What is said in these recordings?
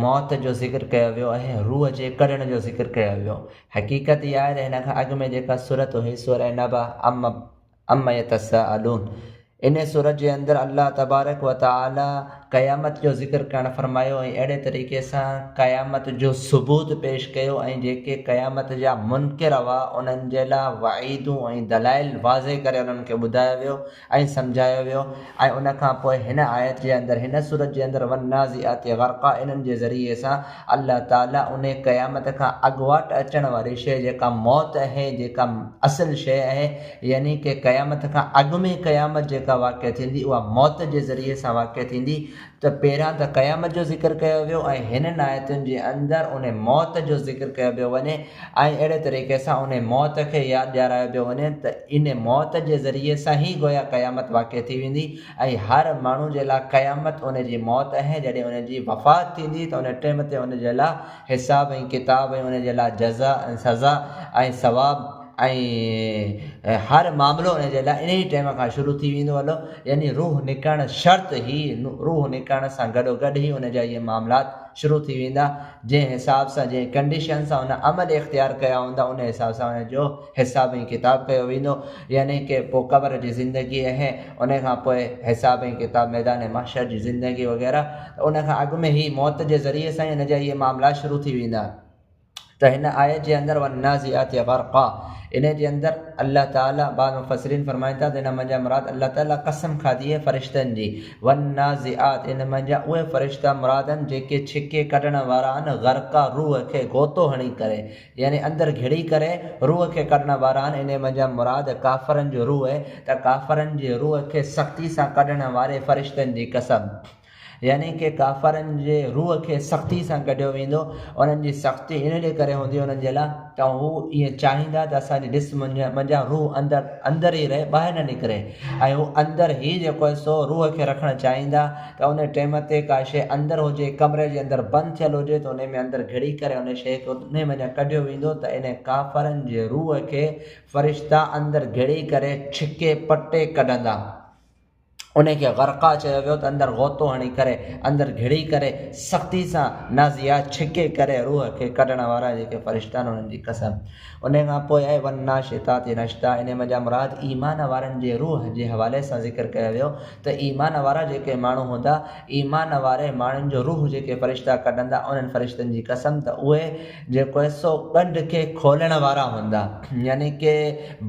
موت جو ذڪر ڪيو ويو ۽ روح جي ڪڍڻ جو ذڪر ڪيو ويو. حقيقت اها آهي ته هن کان اڳ ۾ جيڪا سورت هئي سورة نبأ عما يتساءلون ان سورت جي اندر الله تبارڪ و تعالي قيامت جو ذڪر ڪرڻ فرمايو ۽ اهڙي طريقي سان قيامت جو ثبوت پيش ڪيو ۽ جيڪي قيامت جا منڪر هئا انهن جي لاء وعيدون ۽ دلائل واضح ڪري انهن کي ٻڌايو ويو ائين سمجهايو ويو ۽ ان کان پوء هن آيت جي اندر هن سورت جي اندر والنازعات غرقا انهن جي ذريعي سان الله تعالي انهي قيامت کان اڳواٽ اچڻ واري شيء جيڪا موت اهي جيڪا اصل شيء اهي يعني ڪه قيامت کان اڳ ۾ قيامت جيڪا واقع ٿيندي اها موت جي ذريعي سان واقع ٿيندي ته پهريان ته قيامت جو ذڪر ڪيو ويو ۽ هنن آيتن جي اندر ان موت جو ذڪر ڪيو پيو وڃي ۽ اهڙي طريقي سان ان موت کي ياد ڏيارايو پيو وڃي ته ان موت جي ذريعي سان هي گويا قيامت واقع ٿي ويندي ۽ هر ماڻهو جي لا قيامت ان جي موت اهي جڏهن ان جي وفات ٿيندي ته ان ٽيم تي ان جي لا حساب ۽ ڪتاب ۽ ان جي لا جزا ۽ سزا ۽ ثواب ۽ هر معاملو ان جي لاء انهيء ٽيم کان شروع ٿي ويندو هلو، يعني روح نڪرڻ شرط هي، روح نڪرڻ سان گڏوگڏ ئي ان جا اهي معاملات شروع ٿي ويندا، جنهن حساب سان، جنهن ڪنڊيشن سان هن عمل اختيار ڪيا هوندا، ان حساب سان ان جو حساب ۽ ڪتاب ڪيو ويندو، يعني ڪي پوء قبر جي زندگي اهي، ان کان پوء حساب ۽ ڪتاب، ميدان محشر جي زندگي وغيره، ته ان کان اڳ ۾ هي موت جي ذريعي سان ئي ان جا اهي معاملات شروع ٿي ويندا. ته هن آيت جي اندر والنازعات غرقا انهي جي اندر الله تعالي بعض مفسرين فرمائن ٿا ته ان منجهان مراد الله تعالي قسم کاڌي آهي فرشتن جي والنازعات ان منجهان اهي فرشتا مراد آهن جيڪي ڇڪي ڪڍڻ وارا آهن غرقا روح کي غوطو هڻي ڪري يعني اندر گهڙي ڪري روح کي ڪڍڻ وارا آهن انهي منجهان مراد ڪافرن جو روح ته ڪافرن جي روح کي سختي سان ڪڍڻ واري فرشتن جي قسم يعني ڪي ڪافرن جي روح کي سختي سان ڪڍيو ويندو، انهن جي سختي ان ڏي ڪري هوندي انهن جي لاء ته هو ائين چاهيندا ته اسان جي جسم منجهان روح اندر اندر ئي رهي ٻاهر نه نڪري ۽ هو اندر هي جيڪو آهي سو روح کي رکڻ چاهيندا ته ان ٽيم تي ڪا شيء اندر هجي ڪمري جي اندر بند ٿيل هجي ته انهي ۾ اندر گهڙي ڪري انهي شيء کي انهي منجهان ڪڍيو ويندو ته انهن ڪافرن جي روح کي فرشتا اندر گهڙي ڪري ڇڪي پٽي ڪڍندا. انهي کي غرقا چيو ويو ته اندر غوطو هڻي ڪري اندر گهڙي ڪري سختي سان نازيا ڇڪي ڪري روح کي ڪڍڻ وارا جيڪي فرشتا آهن انهن جي قسم انهي کان پوء اي والناشطات نشطا انهي مان جا مراد ايمان وارن جي روح جي حوالي سان ذڪر ڪيو ويو ته ايمان وارا جيڪي ماڻهو هوندا ايمان واري ماڻهن جو روح جيڪي فرشتا ڪڍندا انهن فرشتن جي قسم ته اهي جيڪو حصو ڳنڍ کي کولڻ وارا هوندا، يعني ڪي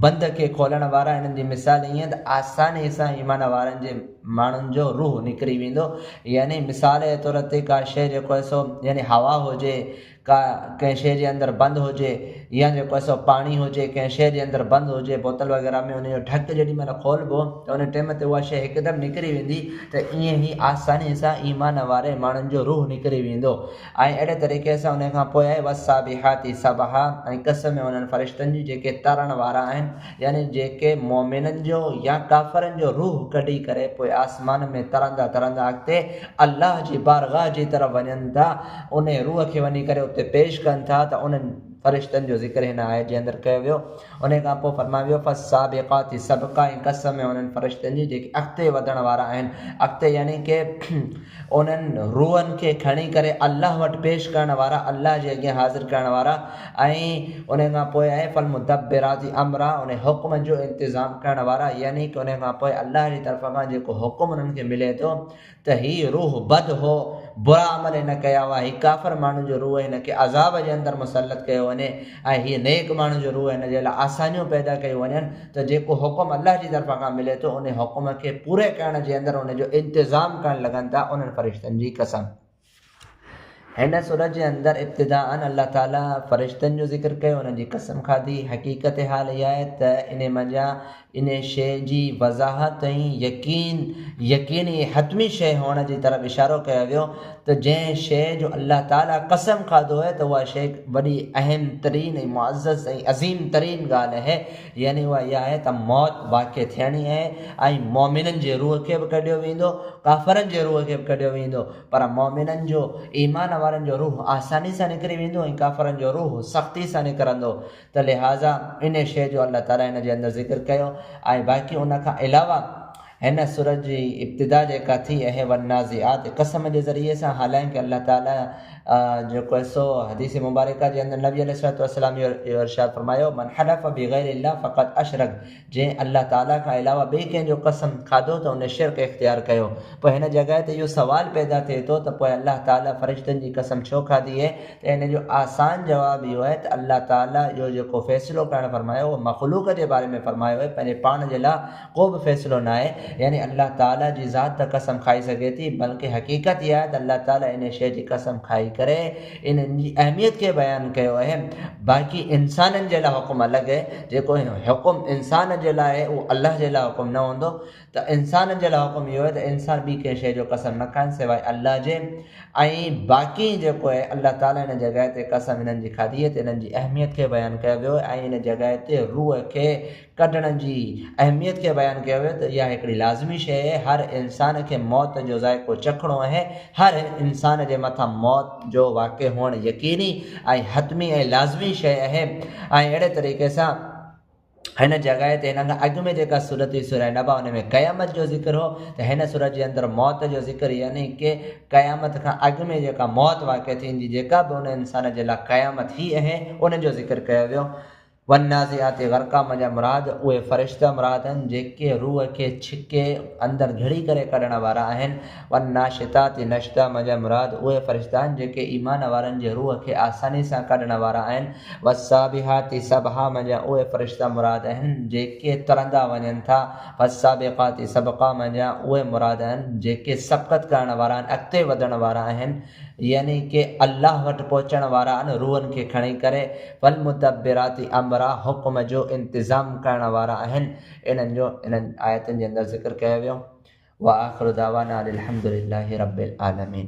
بند کي کولڻ وارا، انهن جي مثال ائين ته آسانيء سان ايمان وارن جي ماڻهن جو روح نڪري ويندو، يعني مثال جي طور تي ڪا شيء جيڪو حصو يعني هوا هجي، ڪا ڪنهن شيء جي اندر بند هجي يا جيڪو حصو پاڻي هجي ڪنهن شيء جي اندر بند هجي بوتل وغيره ۾ ان جو ڍڪ جيڏي مهل کولبو ته ان ٽيم تي اها شيء هڪدم نڪري ويندي ته ائين ئي آسانيء سان ايمان واري ماڻهن جو روح نڪري ويندو. ۽ اهڙي طريقي سان ان کان پوء والسابحات سبحا ۽ قسم ۾ انهن فرشتن جي جيڪي ترڻ وارا آهن يعني جيڪي مؤمنن جو يا ڪافرن جو روح ڪڍي ڪري پوء آسمان ۾ ترندا ترندا اڳتي الله جي بارگاھ جي طرف وڃن ٿا انهي روح کي وڃي ڪري اتي پيش ڪن ٿا ته انهن فرشتن جو ذڪر هن آيت جي اندر ڪيو ويو. انهيء کان پوء فرمايو ويو، فالسابقات سبقا ۽ قسم آهي انهن فرشتن جي جيڪي اڳتي وڌڻ وارا آهن. اڳتي يعني ڪي انهن روحن کي کڻي ڪري الله وٽ پيش ڪرڻ وارا، الله جي اڳيان حاضر ڪرڻ وارا ۽ انهيء کان پوء آهي فالمدبرات امرا انهن حڪمن جو انتظام ڪرڻ وارا يعني ڪي انهيء کان پوء الله جي طرف کان جيڪو حڪم انهن کي ملي ٿو ته هي روح بد هو، برا عمل هن ڪيا هئا، هي ڪافر ماڻهن جو روح هن کي عذاب جي اندر مسلط ڪيو وڃي ۽ هي نيڪ ماڻهن جو روح هن جي لاء آسانيون پيدا ڪيون وڃن ته جيڪو حڪم الله جي طرفان کان ملي ٿو ان حڪم کي پوري ڪرڻ جي اندر ان جو انتظام ڪرڻ لڳن ٿا انهن فرشتن جي قسم! هن سورت جي اندر ابتداءً الله تعاليٰ فرشتن جو ذڪر ڪيو، انهن جي قسم کاڌي، حقيقت حال اها آهي ته انهي منجهان انهي شيء جي وضاحت ۽ يقين، يقيني ۽ حتمي شيء هئڻ جي طرف اشارو ڪيو ويو ته جنهن شيء جو الله تعاليٰ قسم کاڌو آهي ته اها شيء وڏي اهم ترين ۽ معزز ۽ عظيم ترين ڳالهه اهي، يعني اها اها آهي ته موت واقع ٿيڻي آهي ۽ مؤمنن جي روح کي به ڪڍيو ويندو، ڪافرن جي روح کي به ڪڍيو ويندو، پر مؤمنن جو، ايمان وارن جو روح آساني سان نڪري ويندو ۽ ڪافرن جو روح سختي سان نڪرندو ته لهٰذا انهي شيء جو الله تعاليٰ هن جي اندر ذڪر ڪيو ۽ باقي ان کان علاوه هن سورت جي ابتدا جيڪا ٿي اهي والنازعات قسم جي ذريعي سان حالانڪ الله تعالي جيڪو هي سو حديث مبارڪه جي اندر نبي عليه الصلوة والسلام اهو ارشاد فرمايو من حلف بغير الله فقط اشرڪ جنهن الله تعالي کان علاوه ٻئي ڪنهن جو قسم کاڌو ته ان شرڪ اختيار ڪيو پوء هن جڳهه تي اهو سوال پيدا ٿئي ٿو ته پوء الله تعالي فرشتن جي قسم ڇو کاڌي اهي ته ان جو آسان جواب اهو اهي ته الله تعالي اهو جيڪو فيصلو ڪرڻ فرمايو اهو مخلوق جي باري ۾ فرمايو اهي پنهنجي پاڻ جي لا ڪو به فيصلو ناهي يعني الله تعالي جي ذات ته قسم کائي سگهي ٿي بلڪه حقيقت اها آهي ته الله تعالي انهي شيء جي قسم کائي ڪري انهن جي اهميت کي بيان ڪيو اهي باقي انسانن جي لاء حڪم الڳ اهي جيڪو حڪم انسان جي لاء اهي اهو الله جي لاء حڪم نه هوندو ته انسانن جي لاء حڪم اهو اهي ته انسان ٻي ڪنهن شيء جو قسم نه کائن سواء الله جي ۽ باقي جيڪو اهي الله تعالي ان جڳهه تي قسم انهن جي کاڌي اهي ته انهن جي اهميت کي بيان ڪيو ويو اهي ۽ ان جڳهه تي روح کي ڪڍڻ جي اهميت کي بيان ڪيو ويو ته اها هڪڙي لازمي شيء اهي هر انسان کي موت جو ذائقو چکڻو اهي هر انسان جي مٿان موت جو واقع هئڻ يقيني ۽ حتمي ۽ لازمي شيء اهي ۽ اهڙي طريقي سان هن جڳهه تي هن کان اڳ ۾ جيڪا صورت هئي سورة نبا ان ۾ قيامت جو ذڪر هو ته هن صورت جي اندر موت جو ذڪر يعني ڪي قيامت کان اڳ ۾ جيڪا موت واقع ٿيندي جيڪا به ان انسان جي لاء قيامت هي اهي ان جو ذڪر ڪيو ويو والنازعات غرقا مان جا مراد اهي فرشته مراد آهن جيڪي روح کي ڇڪي اندر جھڙي ڪري ڪڍڻ وارا آهن، والناشطات نشطا مان جا مراد اهي فرشته آهن جيڪي ايمان وارن جي روح کي آساني سان ڪڍڻ وارا آهن، والسابحات سبحا مان جا اهي فرشته مراد آهن جيڪي ترندا وڃن ٿا، فالسابقات سبقا مان جا اهي مراد آهن جيڪي سبقت ڪرڻ وارا آهن، اڳتي وڌڻ وارا آهن. يعني ڪي الله وٽ پهچڻ وارا آهن روحن کي کڻي ڪري فالمدبرات امرا حڪم جو انتظام ڪرڻ وارا آهن انهن جو انهن آيتن جي اندر ذڪر ڪيو ويو واخر دعوانا ان الحمدلله رب العالمين.